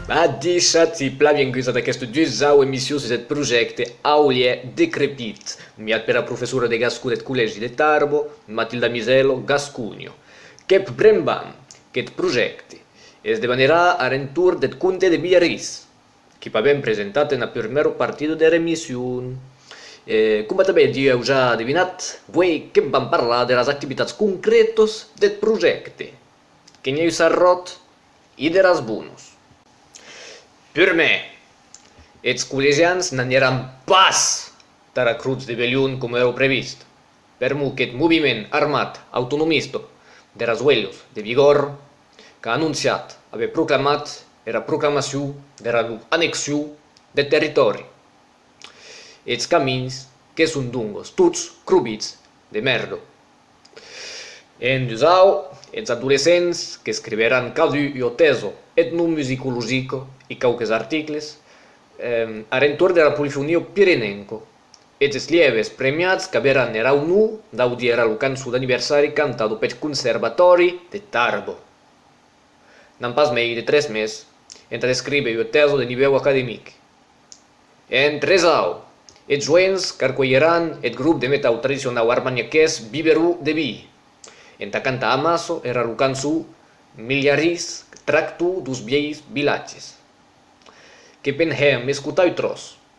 Badishatz e plan vienguts ad aquesta dusau emission sus eth projècte Aulièr decrepit, miat pera professora de gascon deth Collègi de Tarbo, Matilda Misello, Gasconio. Qu'eth brembam, qu'eth projècte, es de venerar ar entorn deth comte de Villarís. que pavem presentat ena purmèro partida der emission. E coma tanben d'i èu ja adivinat, vuei que vam parlar deras activitats concrètas deth projècte, que n'i èu s'arròt, e der asbonos. Purmèr, eths collegians n'anieràn pas tara crotz de Belion coma èra previst. Per mot qu'eth moviment armat autonomista de Rasuelhos de Bigòrre qu'a anonciat aver proclamat era proclamacion dera non annexion deth territòri, eths camins que son dongos tots crobits de mèrda. E en dusau, eths adolescents qu'escriveràn cadun ua tèsa etnomusicologica e quauques articles ar entorn dera polifonia pirenenca e des lièves premiats qu'averàn era onor d'audir era locançon d'anniversari cantado peth Conservatòri de Tarbo. N'an pas mei de tres mes entà descríver ua tèsa de nivèu academic. En tresau, es joents qu'arcuelheràn eth grop de metau tradicionau armaniaqués Biberó de Vii, entà cantar amasso era locançon Milharís tracto dos vielhs vilatges. Que penhèm escotar ua tròç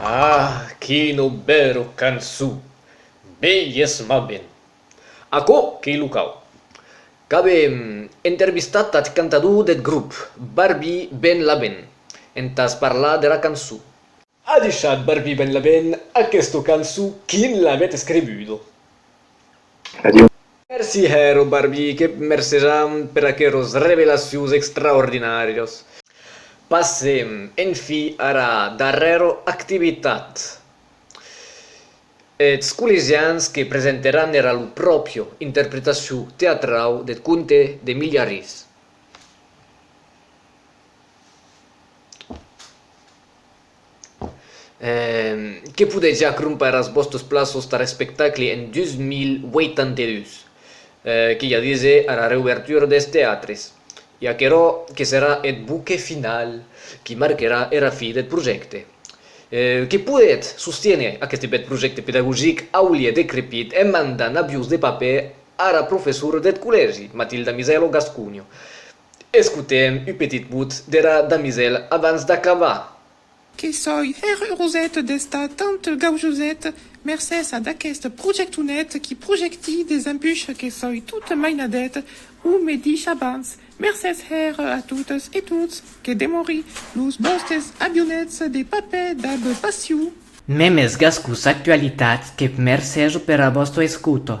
Ah, quin obèro cançó! Bellesmament! Aquò qu'ei lo cau. Qu'ave entervistat ath cantador deth grop, Barbi Ben Laben, entàs parlar dera cançó. A deishat Barbi Ben Laben aquesta cançó quin l'avèt escrivuda. Adieu. Merci Hero Barbie, que mercejam per aqueros revelacions extraordinàrios. Passem en fi ara darrèra activitat, eths collegians que presenteran era lu pròpio interpretacion teatrau deth conte de Milha Ris. Que podètz ja crompar as vòstes plaços tar espectacle en 2082, que ja dise ara reuvertura des teatres, e aquerò que serà eth buque finau qui marquerà era fi deth projècte. Que podètz sostiéner aqueste bèth projècte pedagogic aulie decrepit en mandant avions de papèr ara professora deth collègi, Matilda Misaelo Gascugno, Escotem u petit bout dera damisèl abans d'acabar. Que soi hèr un roset d'esta tant gaujoset mercés ad aquest projectonet qui projecti des empuches que soi tot mainadet o me dich abans mercés hèr a totes e tots que demori los bòstes avionets de papè dab passiu. Memes gascus actualitats que v'mercèjo pera vòsta escouta.